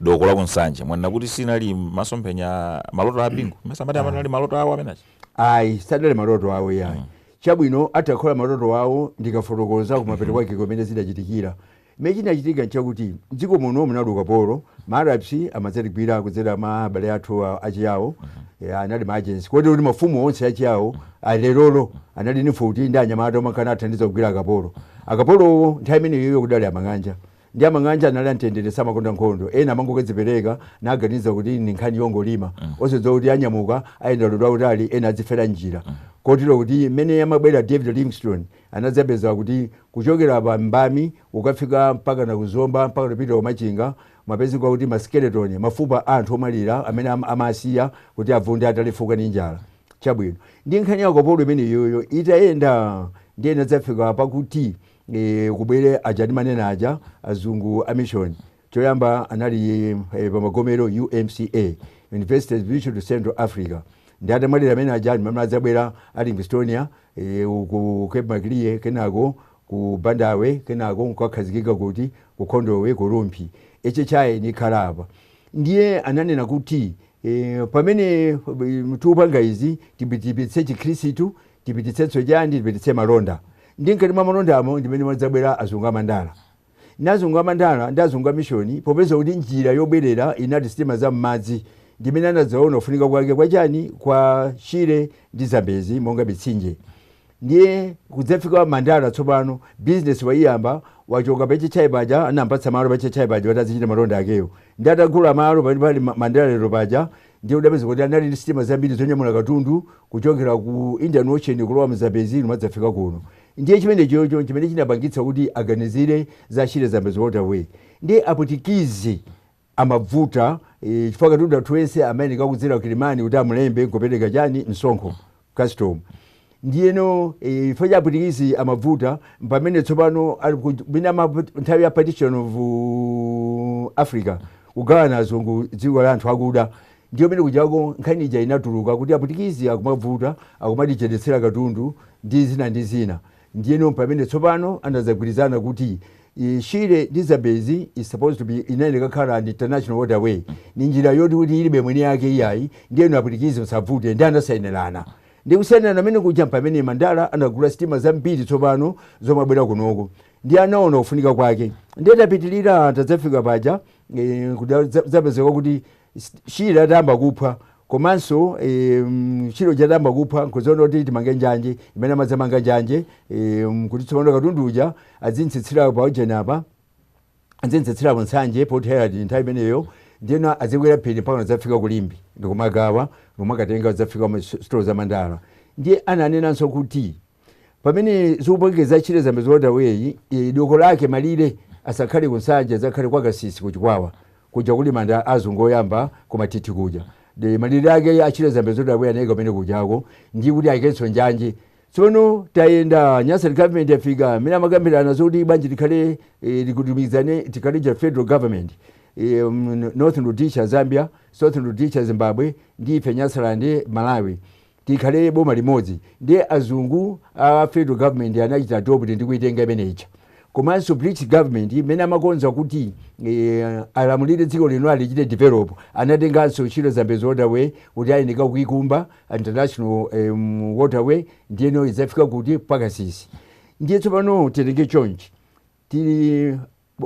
doko la kunsanje mwanena kuti sinali masomphenya maloto a bingu mesa amati amanali maloto awo amenachi ayi sadali maloto awo yayi chabwino atakhala maloto awo ndikafotokoza kumapeto kwake komwe zidachitikira Chimene chinachitika nchakuti m'dziko muno munali ukapolo. Ma Arabs amadzatigwira kudzera mwa abale athu a- achiyao Eh, anali ma agents kotero kuti mafumu onse achiyao alerolo anali ndi mfuti ndi anyamata omwe ankanathandiza kugwira akapolo akapolowo nthawi imeneyoyo kudali amang'anja ndi amang'anja anali amtendere samakonda nkhondo ena amangokadzipereka namaganiza kuti ndi nkhani yongolima osadziwa kuti anyamuka ayenda ulendo wautali ena adzifera njira kotero kuti mmene amabwera david livingstone Anadzapeza kuti kuchokera pa Mbami kukafika mpakana ku Zomba mpakana kupita ku Machinga, mumapezeka kuti ma skeleton, mafupa a anthu omwalira amene amawasiya kuti abvunde atalefuka ndi njala. Chabwino. Ndiye nkhani ya akapolo imeneyoyo itayenda ndiye inadzafika pakuti, ee, kubwere aja ndimanena aja, azungu a mission. Choyamba anali pamagomero UMCA, Universities Mission to Central Africa, ndi atamwalira amene aja ndi mmene adzabwera a Livingstonia ku Cape Maclear kenako ku Bandawe kenako nkukakhazikika kuti ku Khondowe ku Rumphi HHI nikhala apa ndiye ananena kuti e, pamene tikupanga izi tipititse chikhristu tipititsenso chani tipititse malonda ndi mkati mwa malondamo ndi mmene amadzabwera azungu amandala Ndi azungu a Mandala ndi azungu a mishoni, popeza kuti njira yobwerera inali sitima za m'madzi, ndi mmene anadzaona kufunika kwake kwa chani? kwa Shire ndi Zambezi monga mitsinje. Ndiye kudzafika wa Mandala tsopano, bizinesi waiyamba, wachoka pa HHI paja, anampatsa malo pa HHI paja kuti azichita malonda akewo. Ndiye atagula malo pamene pali Mandala lero paja, Ndiye udapeza kuti anali ndi sitima zambiri zonyamula katundu kuchokera ku Indian Ocean kulowa mu Zambezi numadzafika kuno. Ndiye chimenechocho nchimene chinapangitsa kuti aganizire za Shire Zambezi Waterway. Ndiye Apwitikizi amabvuta eh, chifukwa katundu athu ense amayeneka kudzera ku Kilimani kuti amulembe nkupereka chani msonkho. custom ndiyeno eh, chifukwa cha apwitikizi amabvuta pamene tsopano ali ku- mwina ama- nthawi ya partition of uh, africa kugawana azungu dziko la anthu akuda ndiyo mene kujako nkhani ija inatuluka kuti apwitikizi akumabvuta akumatichedetsera katundu ndi zina ndi zina Ndiyeno m'pamene tsopano anadzagwirizana kuti i, Shire ndi Zambezi is supposed to be inayenera kukhala an international waterway. Ni njira yoti kuti ilibe mwini yake iyayi, ndiye inu apwitikizi musabvute, ndiye anasainirana. Ndiye kusainirana kumene kuja m'pamene Mandala anagula sitima zambiri tsopano zomabwera kunoko. Ndiye anaona kufunika kwake. Ndiye tapitirira tadzafika paja, e, kudal, dza, dzapezeka kuti Shire atayamba kuphwa komanso em, chilo chatayamba kuphwa nkudzaona kuti timange njanje imene amadzamanga njanje em, kuti tsopano katundu uja adzitsitsira pa ujeni apa adzitsitsira ku Nsanje Port Herald nthawi imeneyo ndiyeno adzikwera phiri mpaka adzafika ku Limbe ndikumagawa ndikumakatenga adzafika sitolo za Mandala ndiye ananenanso kuti pamene zikupangika za Shire Zambezi Waterway eh, doko lake malire asakhale ku Nsanje adzakhale kwa Kasisi ku Chikwawa kuja kuli manda a azungu oyamba ku Mathithi kuja nde malire ake a Shire Zambezi Waterway anayika kumene kujako ndi kuti ayikenso njanje tsono tayenda Nyasa government yafika amene amakambirana zoti bwanji tikhale eh, lilumikizane tikhale cha federal government eh, mm, Northern Rhodesia Zambia Southern Rhodesia Zimbabwe ndi ife Nyasaland Malawi tikhale boma limodzi ndiye azungu a federal government anachita adopt ndi kuitenga imene ija komanso British government imene amakonza kuti eh, alamulire dziko lino alichite develop anatenganso Shire Zambezi Waterway kuti ayeneka kuikumba international em, waterway ndiyeno idzafika kuti pa Kasisi ndiye tsopano titenge chonchi Tili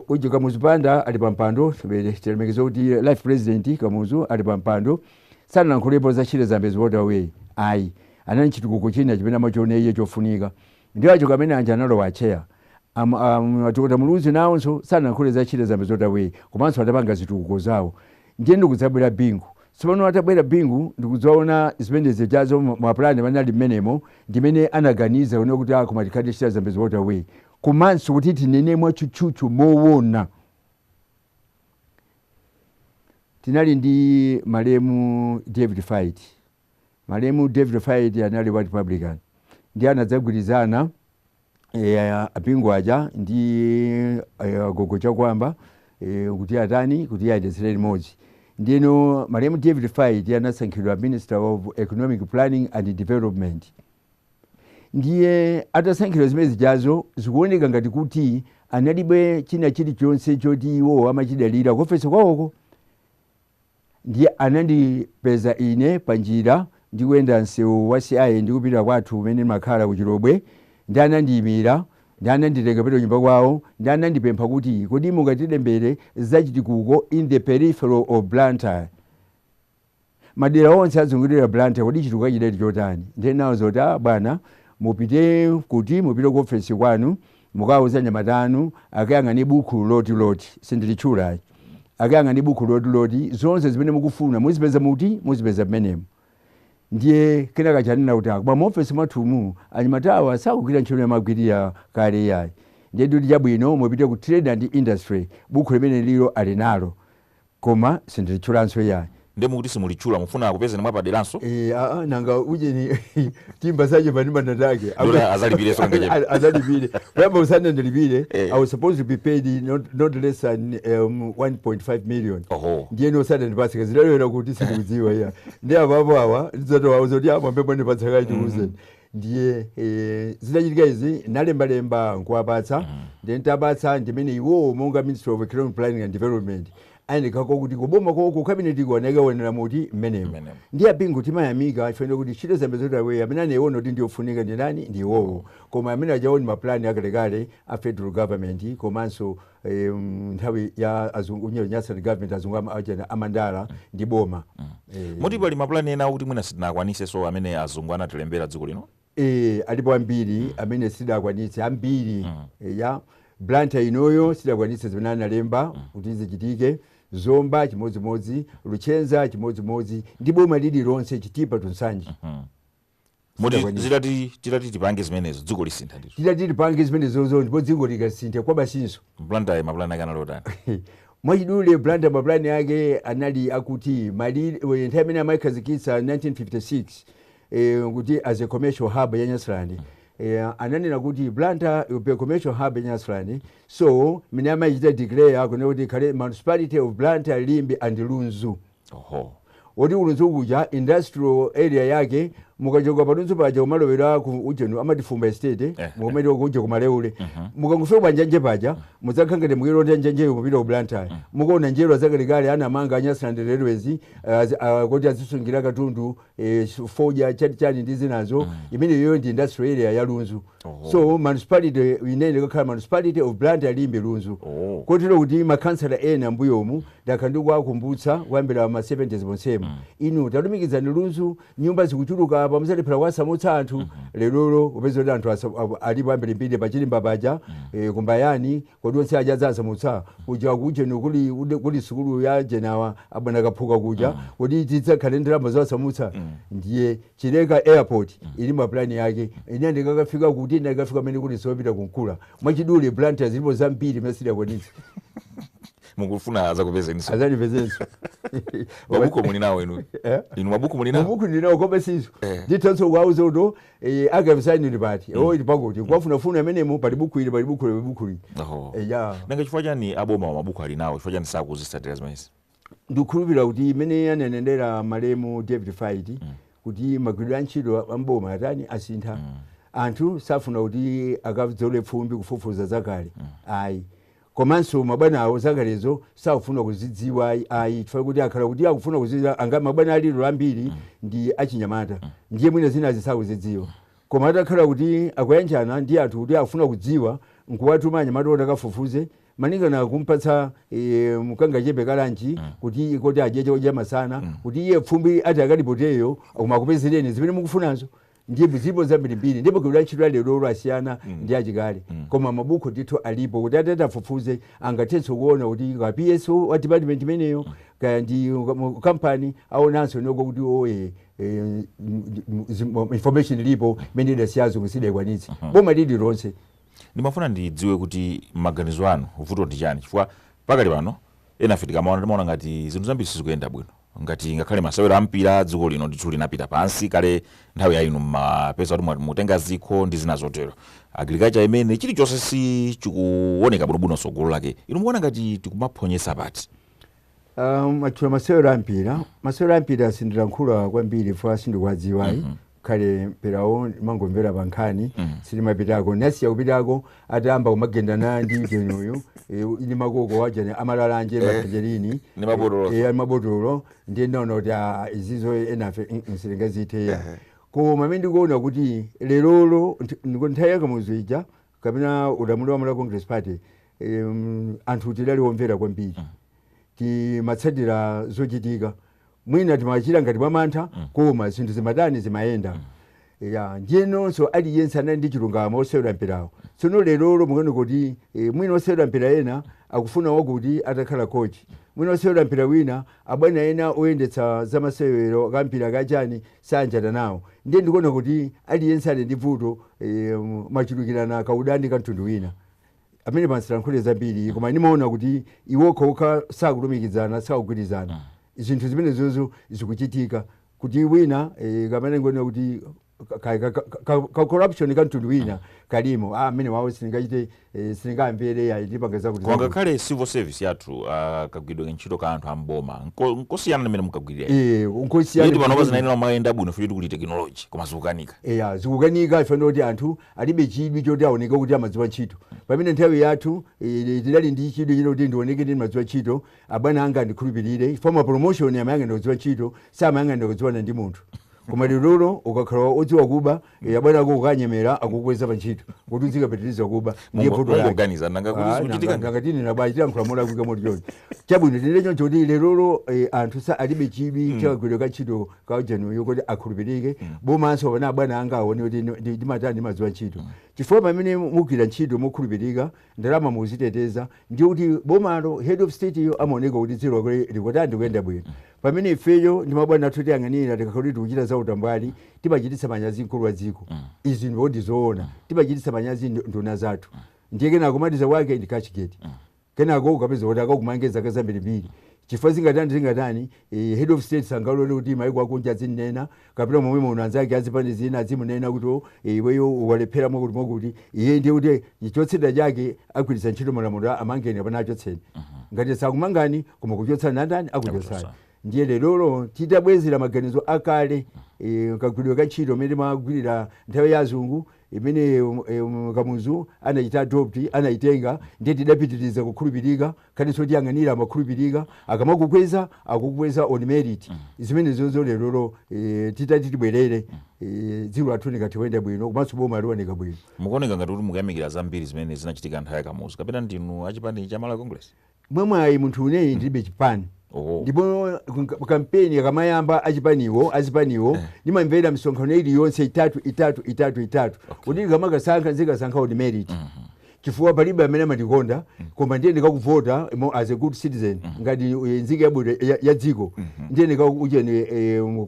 uje Kamuzu Banda ali pa mpando tilemekeze kuti life president Kamuzu ali pa mpando sanalankhulepo za Shire Zambezi Waterway ayi anali ndi chitukuko china chimene amachiona iye chofunika ndi chake amene aja analowa atcheya am- am- a Dokotala Muluzi nawonso sanalankhule za Shire Zambezi Waterway komanso anapanga zitukuko zawo ndiye ndikudzabwera Bingu tsopano atabwera Bingu ndikudzaona zimene zijazo mapulani amene ali mmenemo ndimene anaganiza kuona kuti ah koma tikhale ndi Shire Zambezi Waterway komanso kuti tinene mwatchutchutchu mowona tinali ndi malemu David Faiti malemu David Faiti anali wa Republican ndiye anadzagwirizana eh, a Bingu aja ndi eh, agogo Chakuamba eh, kuti atani kuti ayendetsere limodzi ndiyeno malemu David Faiti anasankhidwa Minister of Economic Planning and Development ndiye atasankhidwa zimene zijazo zikuoneka ngati kuti analibe china chilichonse choti iwo amachidalira ku ofesi kwawoko ndiye anandipeza ine pa njira ndikuyenda msewu wa CI ndikupita kwathu kumene ndimakhala ku Chilobwe ndi anandiyimira ndi ananditenga kupita kunyumba kwawo ndi anandipempha kuti kodi mungatilembere zachitukuko in the peripheral of Blantyre Madera onse ozungulira Blantyre kodi chitukuko chidali chotani? Ndiye ndinawauza kuti ah bwana mupite kuti mupite ku ofesi kwanu mukawauza anyamata anu akayang'ane buku loti loti sindilitchula ayi akayang'ane buku loti loti zonse zimene mukufuna muzipeza muti muzipeza mmenemo ndiye kenaka ananena kuti ah bwana mu ofesi mwathumu anyamatawa sakugwira ntchito yamagwirira kale yayi ndiye ndikuti chabwino mupite ku trade and industry buku limene lijalo ali nalo Koma sindilitchulanso iyayi. Nde mukuti simulitchula mufuna akupezeni mwapaderanso? Eee aa nanga ujeni timba saje panima natake Nde kuti azandilipirenso kangachepe. azalipire kuyamba usanandilipire Eh. I was supposed to be paid not, not less than um, 1.5 million Oho. ndiye osanandipatse kazidalowera kuti sindikudziwa iyayi ndi apapo awa ndidzatowawo zoti amwambe mwandipatsa kayi tiuzeni ndiye eh, zitachitika izi nalembalemba nkuwapatsa ndiye ntapatsa ndimene iwowo monga ministry of economic planning and development ayendekako kuti kuboma koko kabinetiko anakaonera muti mmenemo Mmenemo. ndiye apingo timayamika chifukwa kuti Shire Zambezi Waterway amene anayiona kuti ndiyofunika ndi nani ndi iwowo koma amene anaona mapulani akalekale a federal government komanso eh, mm, nthawi ya azungu u- nyasa government azungu ama- achena amandala ndi boma Eh, moti pali mapulani ena akuti mwina sitinakwanise so amene azungu anatilembera dziko lino eh, alipo ambiri amene sitidakwanitse ambiri eh, ya blantyre inoyo sitidakwanitse zimene analemba kuti zichitike zomba chimodzimodzi luchenza chimodzimodzi ndi boma lililonse chitipa to nsanje Moti Sitakwanira. zitati titati tipange zimenezo dziko lisintha ndithu. titati tipange zimenezozo ndipo dziko likasintha kwabasinso Blantyre mapulani ake anali otani? mwachidule blantyre mapulani ake anali akuti malire nthawi imene amayikhazikitsa 1956 eh, kuti as a commercial hub ya nyasaland eh, ananena kuti blantyre will be a commercial hub ya nyasaland so mene amayichita declare akunena kuti ikhale municipality of blantyre limbe and lunzu Oho. Moti ku Lunzu kuja industrial area yake mukachoka pa Lunzu paja kumalowera ku ujeni amati Fumba Estate eh, eh. mukamati kuja kumaleule uh mhm. -huh. mukangofika pa njanji paja mudzakhala ngati mukulonda njanjiyo mupita ku Blantyre uh mhm. -huh. mukaona njerwa zakalekale anamanga Nyasaland Railways uh, eh, uh, eh, kuti azisungira katundu eh, s- fodya chani chani ndi zinazo imeneyoyo ndi industrial area ya lunzu Oh. so municipality imene ikakhala municipality of blantyre limbe lunzu Oh. kotero kuti makhansala ena mbuyomu ndakhala ndikuwakumbutsa kuyambira ma 70s monsemu inu talumikizani lunzu nyumba zikuchuluka apa mudzalephera kuwasamutsa anthu lerolo mupeza kuti anthu asa- a- alipo ambirimbiri pachirimba paja eh, kumbayani Kodi onse aja adzasamutsidwa? Kuja kujeni kuli ude- kuli sukulu ya ujeni awa abwana kaphuka kuja kodi tidzakhale ndalama zowasamutsa ndiye chileka airport ili mapulani yake ine ndikakafika kuti ndikafika mmene mukuti zopita kunkula mwachidule blantyre zilipo zambiri zimene sitidakwanitse mukufuna azakupezeninso azandipezenso mabuku muli nawo inu Eh? inu mabuku muli nawo mabuku ndinawo koma sizo Eh. ndithanso kuwauza uto Eh, archives ayi ili pati mm. oh, ili pakuti kuwafunafuna mmenemo pali buku ili pali buku ili pali buku ili Oho. eh, ya nanga chifukwa chani aboma wa mabuku ali nawo chifukwa chani sakuzisatira zimenezi ndikhulupirira kuti imene ananenera malemu david faiti kuti magwiridwe a ntchito amboma atani asintha anthu safuna kuti akadzole pfumbi kufufuza zakale ayi Komanso mabwana awo zakalezo sakufuna kuzidziwa ayi chifukwa kuti atakhala kuti akufuna kuzidziwa nanga mabwana a lero ambiri ndi achinyamata ndiye mwina zinazo sakuzidziwa koma atakhala kuti akuyanjana ndi anthu kuti akufuna kudziwa nkuwatuma anyamata oti akafufuze malingana kumpatsa e, kangachepe kalanchi kuti koti adye chamasana kuti iye fumbi ati akalipoteyo akumakupezereni zimene mukufunazo ndipo zilipo zambirimbiri ndipo kuli antchito a lero asiyana mm. ndi achikale mm. koma mabuku ndithu alipo kuti atati afufuze angathenso kuona kuti kwa PS wa department imeneyo mm. kaya ndi kampani aonanso konko kuti oye eh, information ilipo imene idasiyazo musidayikwanitse uh-huh. boma lililonse ndimafuna ndidziwe kuti mmaganizo anu vuto ndi chani chifukwa pakali pano enafe tikamaona timaona ngati zinthu zambiri sizikuyenda bwino ngati ngakhale masewero a mpira dziko lino ndithu linapita pansi kale nthawi yainu mmapeza kuti mumatenga zikho ndi zina zotero agriculture imene chilichonse sichikuoneka bwinobwino tsogolo lake inu mukuona ngati tikumaphonyesa pati Um, mwatchula masewero ampira masewero ampira sindilankhula kwambiri chifukwa sindikuwadziwa ayi kale mpirawo timangomvera pa nkhani sitimapitako ndinasiya kupitako atayamba kumagendana ndi mjenuyu eh, ndi makoko ajani a malalanje mapejerini ndi mabotolo. Eh, ndi mabotolo ndiye ndaona kuti ah, izizi enafe mm, mm, sitingazithe koma amene ndikuona kuti lerolo nt- ndiko nthawi ya Kamuzu ija kapena ulamuliro wa Malawi Congress Party em, anthu tidali omvera kwambiri timatsatira zochitika mwina timachita ngati mwamantha koma zinthu zimatani zimayenda eya ndiyenso aliyense anali ndi chilungamo osewera mpirawo tsono lerolo mukuona kuti eh, mwina osewera mpira ena akufuna wakuti atakhala kochi mwina osewera mpira wina abwana ena oyendetsa zamasewero a mpira kaya chani sagwirizana nawo ndiye ndikuona kuti aliyense ali ndi vuto eh, kumachulukira kaudani ka mtundu wina amene pano sindilankhula zambiri koma ndimaona kuti iwo okhaokha sakulumikizana sakugwirizana zinthu zimenezozo zikuchitika kuti wina eh, kapena ndinene kuti ka- ka- ka- ka- ka- ka corruption ka mtundu wina kalimo ah, amene wawo sindingachite eh, sindingamvere ayi ndipanga zakuti koma zakuti. ngakhale civil service yathu ah, kagwiridwe ka ntchito ka anthu a m'boma nko- nkosiyana ndi mmene munkagwirira Eh, nkosiyana yeti panopa zinayenera kumayenda bwino futi kuli tekinoloji koma zikukanika eya zikukanika ife ndoti anthu alibe chidwi choti aoneke kuti amadziwa ntchito. Pamene nthawi yathu eh, tidali ndi chidwi china kuti ndioneke kuti ndimadziwa ntchito, abwana anga andikhulupirire, chifukwa ma promotion amayang'anira kudziwa ntchito, samayang'anira kudziwana ndi munthu. Koma lerolo ukakhala odziwa kuba, eh, abwana ako ukawanyemera akukweza pa ntchito, kuti uzikapitiriza kuba, ndiye Mungo- vuto lake. mungoganiza nanga kuti Ah, zikuchitika nanga- nanga tinena bwanji tiyankhula molakwika moti choncho chabwino tinene choncho kuti lerolo eh, anthu sa alibe chidwi cha kagwiridwe ka ntchito kwa ujeni uyu kuti akhulupirike bomanso kapena abwana anga aone kuti ndi- ndi- ndimatani ndimadziwa ntchito chifukwa pamene mugwira ntchito mokhulupirika ndalama muziteteza ndiye kuti bomalo head of state yo amaoneka kuti dziko lake likutani likuyenda bwino pamene ifeyo ndi mabwana athu otiyang'anira tikakhala kuti tikuchita za utambwali timachititsa manyazi mkulu wa dziko izi ndiwo ndizoona timachititsa manyazi ndu- nduna zathu ndiye kenako kumaliza kwake ndi cashgate Kenako ukapeza kuti akakumange zaka zambirimbiri chifukwa zingatani zingatani eh, head of state sangalole kuti maiko akunja azimunena kapena momwe muno anzake azipani zina azimunena kuti "Oh, eh, iweyo walephera mwakuti mwakuti iye ndiye kuti chotsatira chake agwiritsa ntchito malamulo a- amangeni kapena achotseni ngati sakumangani koma akuchotsani ndani akuchotsani Akuchotsani. ndiye lerolo titabwezera maganizo akale eh, kagwiridwe ka ntchito mmene timagwirira nthawi ya azungu imene eh, um, kamuzu anachita adopt anayitenga ndiye tidapitiriza kukhulupirika komanso otiyang'anira amakhulupirika akamakukweza akukweza on merit zimene zomwezo lerolo eh, titati tibwerere eh, dziko lathu likatha kuyenda bwino komanso boma lioneka bwino mukuoneka ngati kuti mukuyamikira zambiri zimene zinachitika nthawi ya kamuzu kapena ndinu achipani cha malawi congress mwamwayi munthune ine ndilibe chipani Oh. ndipo kunka- kampeni akamayamba achipaniwo azipaniwo ndimamvera misonkhano iliyonse itatu itatu itatu itatu kuti ndikamakasankha ndizikasankha on merit chifukwa palibe amene amandikonda koma ndiyenera kukavota mo- as a good citizen ngati eh, nzika yabwino ya- ya dziko ndiyenera kutani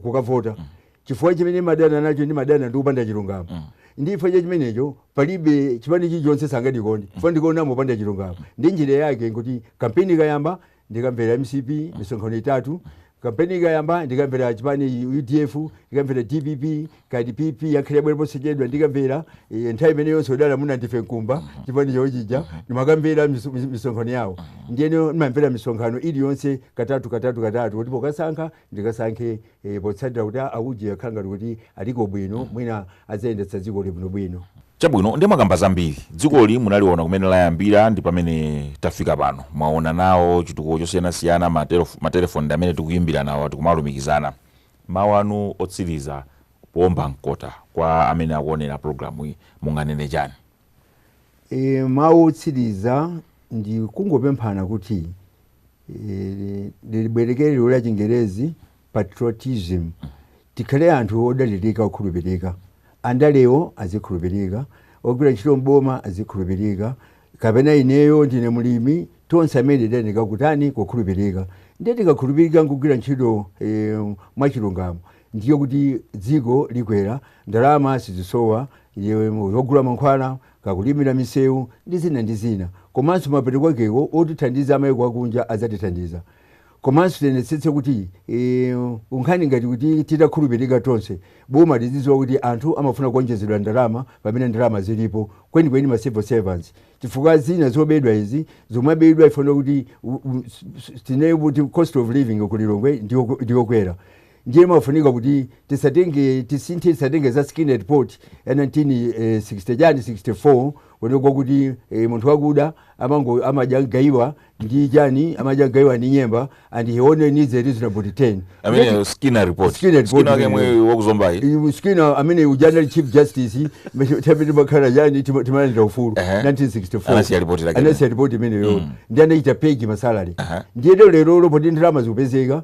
kukavota Chifukwa chimene ndimadana nacho ndimadana ndi kupanda chilungamo mm. ndi chifukwa cha chimenecho palibe chipani chilichonse sangandikonde chifukwa ndikuonamo kupanda chilungamo ndi njira yake nkuti kampeni ikayamba ndikamvera mcp misonkhano itatu kampeni ikayamba ndikamvera chipani udf ndikamvera dpp kaya pp yangobwera posachedwa ndikamvera eh, nthawi imene ija a dunduzu mwina ndi friday jumbe chipani chawo chija ndimakamvera miso- mis- misonkhano yawo ndiyeno ndimamvera misonkhano iliyonse katatu katatu katatu kuti pokasankha ndikasankhe eh, potsatira kuti a- auje akhala ngati kuti aliko bwino mwina adzayendetsa dzikoli bwinobwino chabwino ndiye mwakamba zambiri dzikoli munaliona kumene layambira ndi pamene tafika pano mwaona nawo chitukuko chosiyanasiyana matelef- matelefoni ndi amene tikuyimbira nawo tikumalumikizana mawu anu otsiriza poomba mkota kwa amene akuonera programu iyi munganene chani E, mawu otsiriza ndi kungopemphana kuti e, ndibwerekeko liwu la chingerezi patriotism tikhale anthu odalirika okhulupirika andalewo azikhulupirika ogwira ntchito mboma azikhulupirika kapena ineyo ndine mlimi tonse amene tiyeneka kutani kukhulupirika ndiye tikakhulupirika nkugwira ntchito e, mwachilungamo ndiye kuti dziko likwera, ndalama sizisowa, zogula mankhwala, kaya kulimira misewu ndi zina ndi zina. Komanso mapeto kwakeko otithandiza amaiko akunja adzatithandiza. Komanso tionetsetse kuti nkhani ngati kuti titakhulupirika tonse, boma lizidziwa kuti anthu amafuna kuonjezedwa ndalama pamene ndalama zilipo, kwenikweni ma civil servants, chifukwa zina zobedwa izi, zumabedwa chifukwa kuti cost of living ku Lilongwe ndiyokwera. ndiye pamafunika kuti tisatenge tisinthe tisatenge za Skinner report ya 1960 chani 64 kuonetsa kuti eh, munthu wakuda amango amadya gaiwa ndi chani amadya gaiwa ndi nyemba and he only needs a reasonable return amene Skinner report Skinner report Skinner wake amene- yemwe wa ku Zombayu Iwe Skinner amene uja anali chief justice tapita makhala yani tima- timalandira ufulu Ehe. 1964 Anasiya ripoti lake. anasiya ripoti imeneyo ndi anachita pegi masalary Aha. ndiye lero lero poti ndalama zikupezeka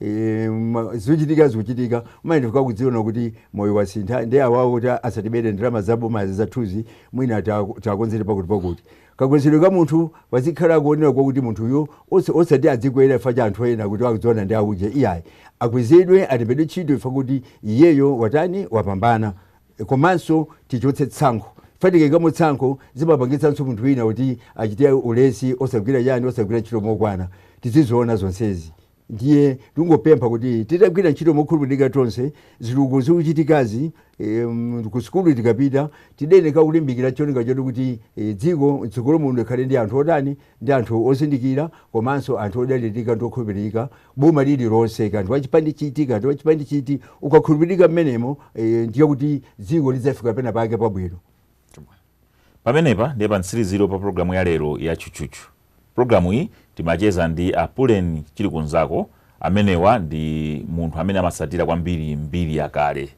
e, zochitika zikuchitika ayi ndithu kakudziona kuti moyo wasintha ndi awawo kuti asatibere ndalama za boma zathuzi mwina takonzere pakuti pakuti kakwezedwe ka munthu pazikhala akuonera kwakuti munthuyo osati adzikwera ifa cha anthu ena kuti akudziwana ndi auje iyayi akwezedwe alembedwe ntchito ifa kuti iyeyo watani wapambana komanso tichotse tsankho fa tikaikamo tsankho zimapangitsanso munthu wina kuti achite ulesi osagwira yani osagwira ntchito mokwana tiziziona zonsezi Ndiye tingopempha kuti titagwira ntchito mokhulupirika tonse, zitukuko zikuchitikazi em, ku sukulu tikapita tiyeneka kulimbikira cholinga choti kuti eh, dziko mtsogolo muno likhale ndi anthu otani ndi anthu ozindikira komanso anthu odalirika ndi okhulupirika boma lililonse kaya ndiwe wachipani chiti kaya ndiwe wachipani chiti ukakhulupirika mmenemo eh, ndiye kuti dziko lidzafika pena pake pabwino pamenepa ndiye pa mtsirizo pa programu ya lero ya chuchuchu Programu iyi timacheza ndi a Pullen Chilikunzako amene awa ndi munthu amene amatsatira kwambiri mbiri yakale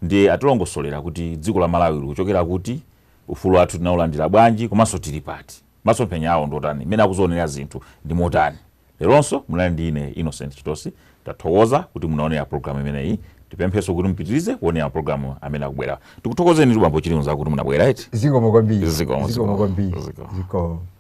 ndiye atilongosolera kuti dziko la Malawi likuchokera kuti, ufulu wathu tinaulandira bwanji komanso tili pati, masomphenya awo ndiotani, mmene akuzionera zinthu ndi motani. Leronso munali ndi ine Innocent Chitosi tathokoza kuti munaonera programu imeneyi tipemphenso kuti mupitirize kuonera mapulogalamu amene akubwerawa. Tikuthokozenitu bambo Chilikunzako kuti munabwera eti. Zikomo kwambiri. Zikomo, Zikomo zikomo, kwambiri. zikomo. Zikomo.